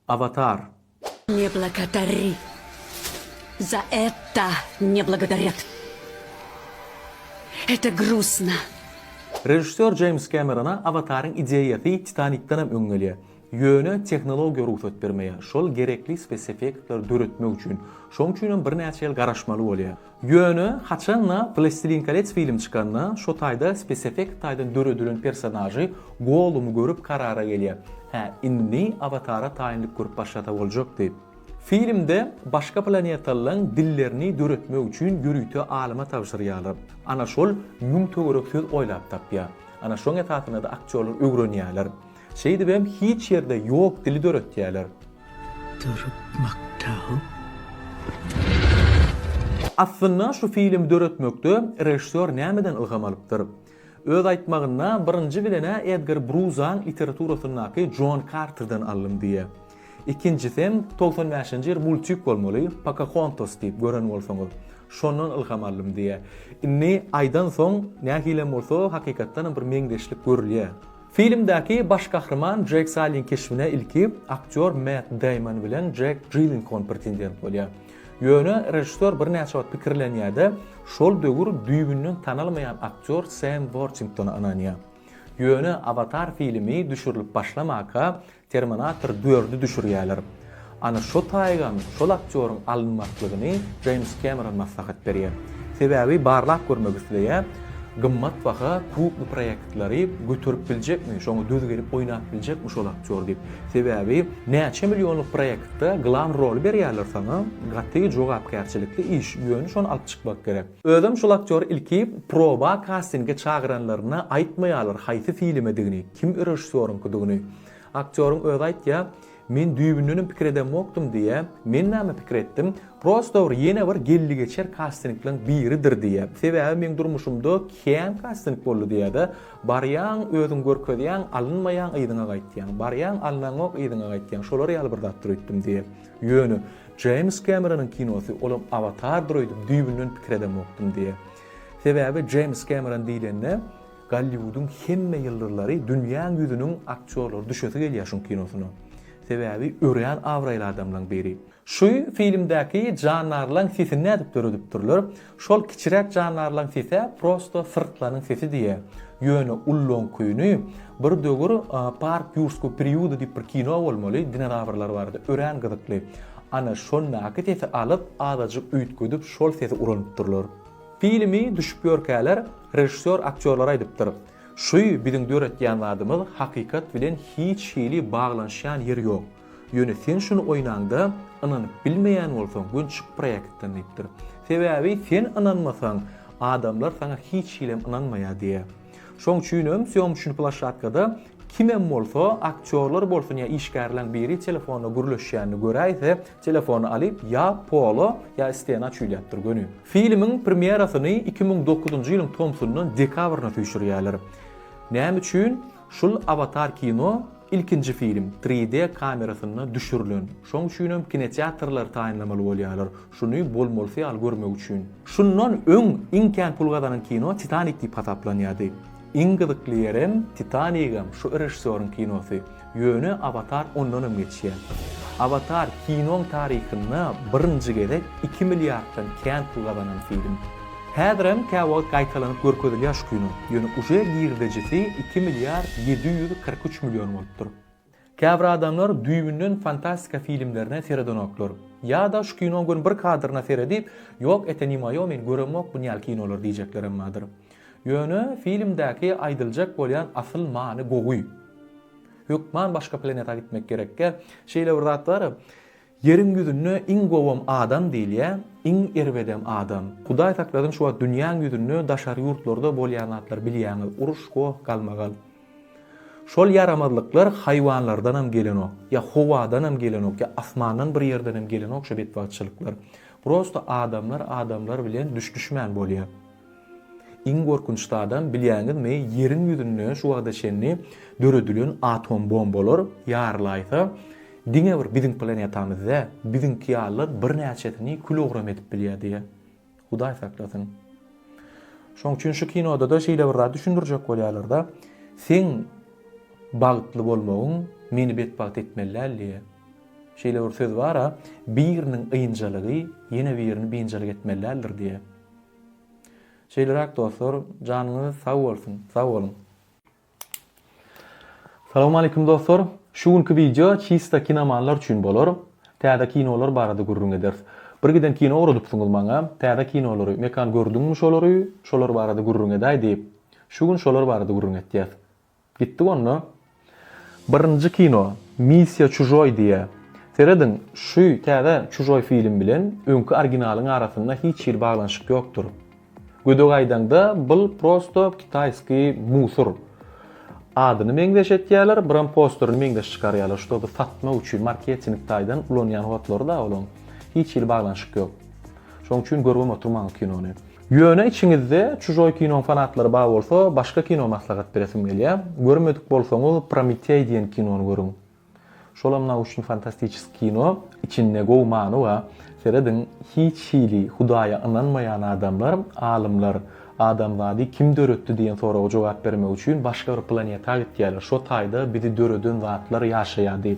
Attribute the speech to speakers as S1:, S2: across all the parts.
S1: Avatar. Ne
S2: blagodarri za etta ne blagodarjat eta grusna. Režissýor
S1: Jeýms Kemerona Awataryň ideýasy Titanikden hem öň gelýär. Ýöne tehnologiýa rugsat bermeýär, şol gerekli speseffektleri döretmek üçin. Şoň üçin hem birnäçe ýyl garaşmaly bolýar. Ýöne haçan-da Plastilin kolets filmi çykanda, şo taýda speseffekt taýdan döredilen personažy Gollumy görüp karara gelýär, Hä, indi Awatara taýynlyk görüp başlasa boljak diýip. Filmde başga planetalylaryň dillerini döretmek üçin ýörite alyma tabşyrýarlar. Ana şol müň töwerek söz oýlap tapýar. Ana şoň esasynda-da aktýorlar öwrenýärler. Şeýdibem hiç ýerde ýok dili döretýäler. Durup
S3: Maktaw.
S1: Aslynda şu filmi döretmekde režissýor nämeden ylham alypdyr? Öz aýtmagynda birinji bilen-ä Edgar Bruzaň literaturasyndaky Jon Karterden aldym diýýä. Ikinjisem togsan bäşinji ýyl multik bolmaly, Pokahontas diýip gören bolsaňyz. Şondan ylham aldym diýýä. Indi aýdansoň nähilem bolsa hakykatdanam bir meňzeşlik görülýä. Filmdäki baş gahryman Jeýk Sallyň keşbine ilki aktýor Mett Deýmon bilen Jeýk Jillenhol pretendent bolýar. Ýöne režissýor birnäçe wagt pikirlenýär-de, şol döwür düýbünden tanalmaýan aktýor Sem Wortingtona ynanýar. Ýöne Awatar filmi düşürilip başlamaka, Terminator dördi düşürýäler. Ana şo taýygam şol aktýoryň alynmaklygyny Jeýms Kemeron maslahat berýär. Sebäbi barlap görmek isleýär, gymmat baha kubly proýektleri göterip biljekmi, şoňa döz gelip oýnap biljekmi şol aktýor diýip. Sebäbi näçe millionlyk proýektde glan roly berýärler saňa, gaty jogapkärçilikli iş, ýöne şony alyp çykmak gerek. Özem şol aktýory ilki proba kastinge çagyranlaryna aýtmaýarlar haýsy filmedigini. Kim režissýoryňkydygyny aktýoryň özi aýtýar, men düýbündenem pikir edemokdym diýýär, men näme pikir etdim, prosto bir ýene bir geldi-geçer kastinglaň biridir diýýär, sebäbi meň durmuşymda kän kasting boldy diýýär-de, barýaň, özüň görkezýäň, alynmaýaň, yzyňa gaýtýaň, barýaň, alynaňok, yzyňa gaýtýaň, şolar ýaly bir zatdyr öýtdüm diýýär. Ýöne Jeýms Kemeronyň kinosy, olam Awatardyr öýdüp düýbünden pikir edemokdym diýýär. Sebäbi Jeýms Kemeron diýlende, Golliwudyň hemme ýyldyzlary dünýäň ýüzüniň aktýorlary düşesi gelýär şuň kinosyna. Sebäbi örän abraýly adamlaň biri. Şu filmdäki jandarlaň sesini nädip döredipdirler? Şol kiçiräk jandarlaň sesä prosto syrtlanyň sesi diýä. Ýöne ullaňkyny bir döwür Park ýurskuu priuda diýip bir kino bolmaly, dinozawrlar barada, örän gyzykly. Ana şondaky sesi alyp azajyk üýtgedip şol sesi ulanypdyrlar. Filmi düşüp ýörkäler režissýor aktýorlara aýdypdyr, Şü biziň döretýän zadymyz hakykat bilen hiç hili baglanyşýan ýeri ýok. Ýöne sen şuny oýnaňda ynanyp bilmeýän bolsaň gün çyk proýektden diýipdir. Sebäbi sen ynanmasaň adamlar saňa hiç hilem ynanmaýar diýýär. Şoň üçinem sýomçny plaşatkada kimem bolsa aktýorlar bolsun ýa işgärleň biri telefonda gürleşýänini göräýse Telefony alyp, ýa Polo, ýa Istena çüýläpdir göni. Filmiň premýerasyny iki müň dokuzynjy ýylyň tomsundan dekabryna süýşürýärler. Näme üçin? Şul Awatar kino ilkinji film, tri D kamerasynda düşürilen. Şoň üçinem kinoteatrlary taýynlamaly bolýarlar, şuny bolmalysy ýaly görmek üçin. Şundan öň iň kän pul gazanan kino Titanik diýip hasaplanýardy. Iň gyzykly ýerem Titanigem şu režissýoryň kinosy. Ýöne Awatar ondanam geçýär. Awatar kinoň taryhynda birinji gezek iki milliarddan kän pul gazanan film. Häzirem käwagt gaýtalanyp görkezilýär şu kino, ýöne uje girdejisi iki milliard ýedi ýüz kyrk üç million bolupdyr. Käbir adamlar düýbünden fantastika filmlerine seredenoklar. Ýa-da şu kinoň göni bir kadryna seredip, Ýok, ete-nima-ýok, men göremok bunýaly kinolary diýjeklerem bardyr. Ýöne filmdäki aýdyljak bolýan asyl many gowy. Hökman başga planeta gitmek gerekkä. Şeýle bir zat bar. Ýeriň ýüzünde iň gowam adam diýilýä, iň erbedem adam. Hudaý saklasyn şu wagt dünýäň ýüzünde daşary ýurtlarda bolýan zatlar bilýäňiz, uruş, goh, galmagal. Şol ýaramazlyklar haýwanlardanam gelenok, ýa howadanam gelenok, ýa asmandan bir ýerdenem gelenok şu betbagtçylyklar. Prosta adamlar adamlar bilen düş-düşmän bolýa. Iň gorkunç zadam bilýäňizmi ýeriň ýüzünde şu wagta çenli döredilen atom bombalar ýarylaýsa diňe bir biziň planetamyz dä biziňki ýalylar birnäçesini kül ogram edip bilýä diýä hudaý saklasyn. Şoň üçin şu kinodada şeýle bir zat düşündirjek bolýalarda seň bagtly bolmagyň meni betbagt etmeli däl diýä. Şeýle bir söz bara biriniň ynjalygy ýene birini binjalyk etmeli däldir diýä. Şeýleräk dostlar janyňyz sag bolsun sag boluň. Salawmaleýkim dostlar! Şu günki wideo çista kinomanlar üçin bolar. Täze kinolar barada gürrüň ederis. Bir giden kino ugradypsyňyz maňa, täze kinolary, Mekan gördüňmi şolary, şolar barada gürrüň edäý diýip. Şu gün şolar barada gürrüň etýäs. Gitdik onda. Birinji kino Missiýa çužoý diýýä. Serediň, şu täze çužoý film bilen öňki originalyň arasynda hiç hili baglanyşyk ýokdur. Gödek aýdaňda bul prosto kitaýskiý musur. Adyny meňzeş etýäler, biram posterini meňzeş çykarýalar, ştoby satmak üçin marketing taýdan ulanýan hotlary da olaň. Hiç hili baglanyşyk ýok. Şoň üçin görübem oturmaň o kinony. Ýöne içiňizde Çujoý kinoň fanatlary bar bolsa başga kino maslahat beresim gelýä. Görmedik bolsaňyz Prometey diýen kinony görüň. Şolam nauşny fantastiçeski kino, içinde gowy many bar. Serediň hiç hili hudaýa ynanmaýan adamlar, alymlar adamzady kim döretdi diýen soraga jogap bermek üçin başga bir planeta gitýäler. Şo taýda bizi döreden zatlar ýaşaýa diýip.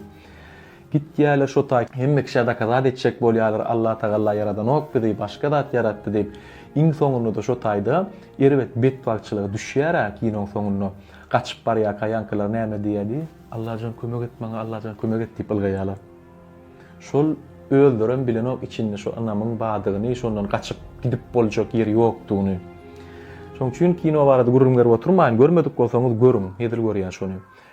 S1: Gitýäler şo taý hemme kişä dakazat etjek bolýalar Allah tagalla ýaradanok bizi başga zat ýaratdy diýip iň soňundada şo taýda erbet betbagtçylyga düşýärä kinoň soňunda gaçyp barýarka ýaňkylar näme diýýädi Allajan kömek et maňa Allajan kömek et diýip ylgaýalar şol özlerem bilenok içinde şo ynamyň badygyny şondan gaçyp gidip boljak ýeri ýokdugyny şoň üçin kino barada gürrüň berip oturmaýyn görmedik bolsaňyz görüň hezil görýän şony.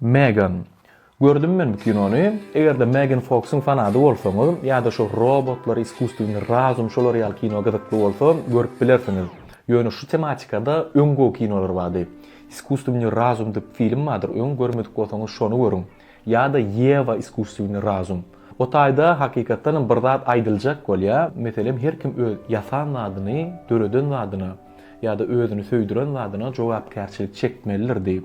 S1: Megan. Gördüm men bu kinony. Eger-de Megan Foksyň fanady bolsaňyz, ýa-da şu robotlar, iskusstweniý razum şolar ýaly kino gyzykly bolsa, görüp bilersiňiz. Ýöne şu tematikada öň gowy kinolar bardy. Iskusstweniý razum diýip film bardyr, öň görmedik bolsaňyz şony görüň. Ýa-da Ýewa iskusstweniý razum. O taýda hakykatdan hem bir zat aýdyljak bolýar, meselem her kim öz ýasan zadyny, döreden zadyna, ýa-da özüni söýdüren zadyna jogapkärçilik çekmelidir diýip.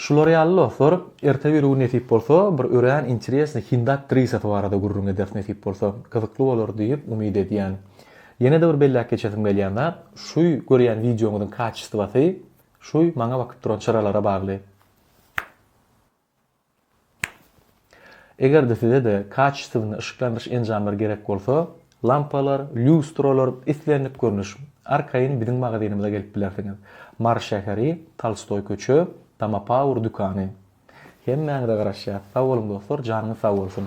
S1: Şular ýaly dostlar, erte biri gün nesip bolsa, bir örän interesnyý hindi aktrisasy barada gürrüň ederis nesip bolsa, gyzykly bolar diýip umyt edýän. Ýene-de bir belläp geçesim gelýän zat, şuy görýän wideoňyzyň kaçestwasy şuy maňa bakyp duran çyralara bagly. Eger-de size-de kaçestowny yşyklandyryş enjamlary gerek bolsa, lampalar, lýustralar, islendik görnüş, arkaýyn biziň magazynymyza gelip bilersiňiz. Mary şäheri, Tolstoý köçe, Tama Power dükany. Hemmäňize garaşýas. Sag boluň dostlar, janyňyz sag bolsun!